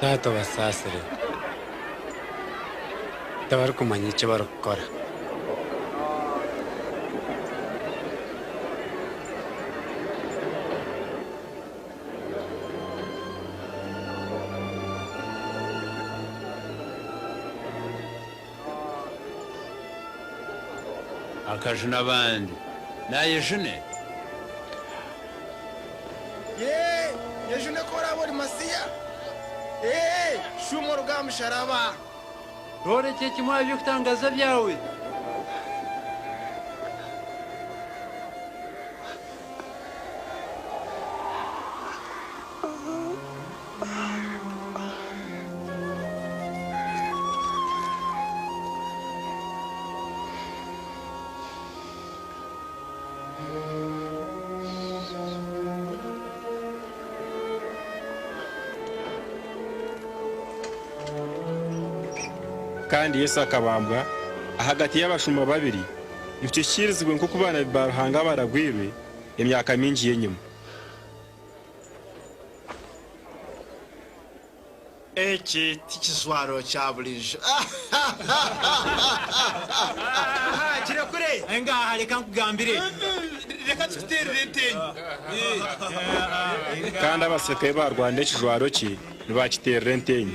Taata obasaasire. Tibarikumanya eki barikukora. Akajune abandi. Naayejune? Yee, yejune ku oraabe ori Masiya. Ee, shuuma oruge aha musharaba. Tworekye kimwe aha by'okutangaaza byawe. Kandi Yesu akabambwa ahagati y'abashuma babiri, nikyo kikiirizibwe nk'oku baanabi ba Ruhanga abaragwirwe emyaka mingi y'enyima. Eki tikijwaro kya buriijo. Engaha reka nkugambire. Reka tukiteerere enteenyo. Kandi abasirikare ei baarwanira ekijwaro kye nibaakiteerera enteenyo.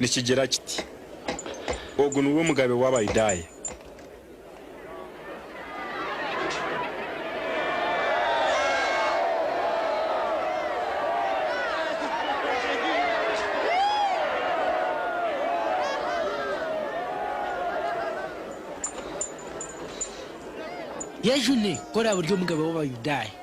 Nikigira kiti, Ogu niwe omugabe w'Abayudaaya. Yesu ni, ku oraabe ori omugabe w'Abayudaaya.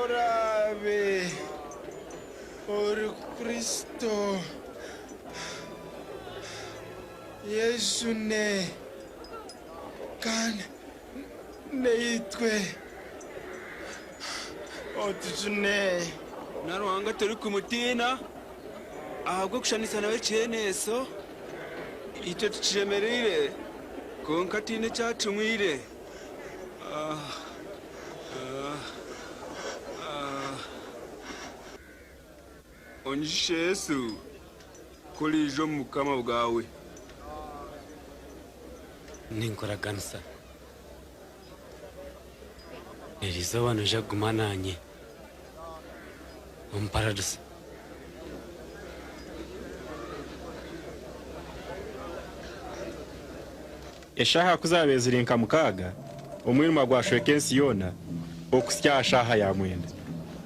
Oraabe ori Kristo, yejune kandi naitwe otujune. Na Ruhanga turikumutiina ahabw'okushushaniisa nawe ekiheeneeso. Itwe tukyemereire kwonka tihaine eki atunwire. Onyijutsye Yesu ku oriija omu Bukama bwawe. Ninkuraganisa. Eri izooba noija kuguma naanye omu Paradiso. Eshaaha ku zaabaire ziri nka mukaaga, omwirima gwashweka ensi yoona okuhitsya aha shaaha ya mwenda.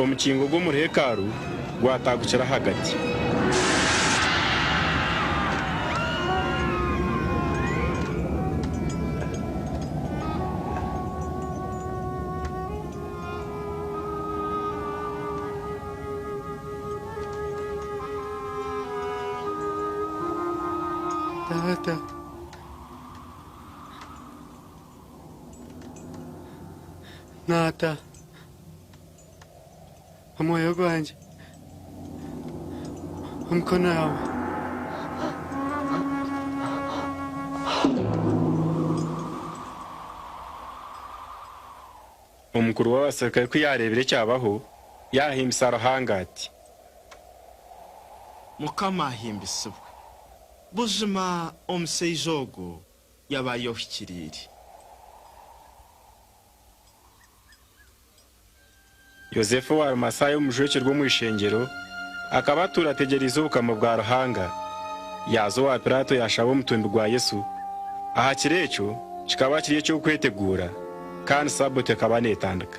Omukingo gw'omuri hekalu gwataagukira ahagati. Taata, Omwoyo gwangye omukono yaawe. Omukuru w'abaserukare ku yaareebire ekyabaho, yaahimbisa Ruhanga ati. Mukama ahimbisibwe! Buzima omushaija ogu yaba ayohikiriire. Yosefu owa Arimasaaya omujweki rw'omu ishengyero, akaba atuura ategyereize Obukama bwa Ruhanga. Yaaza owa Piraato yaashaba omutumbi gwa Yesu. Aha kiro ekyo kikaba kiri eky'Okweteguura, kandi Sabato ekaba neetandika.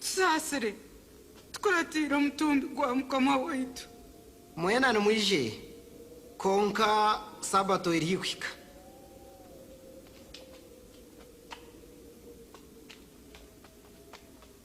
Tusaasire, tukuratiire omutumbi gwa Mukama waitu. Mwena nimwije, kwonka Sabato eri haihi kuhika.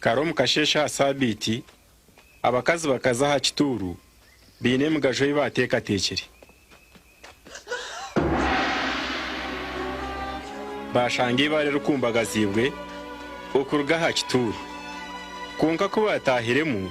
Kare omu kasheeshe aha saabiiti, abakazi bakaza aha kituuru baine emigajo ei baateekateekire. Baashanga eibaare rikumbagaziibwe okuruga aha kituuru. Kwonka ku baataahiremu,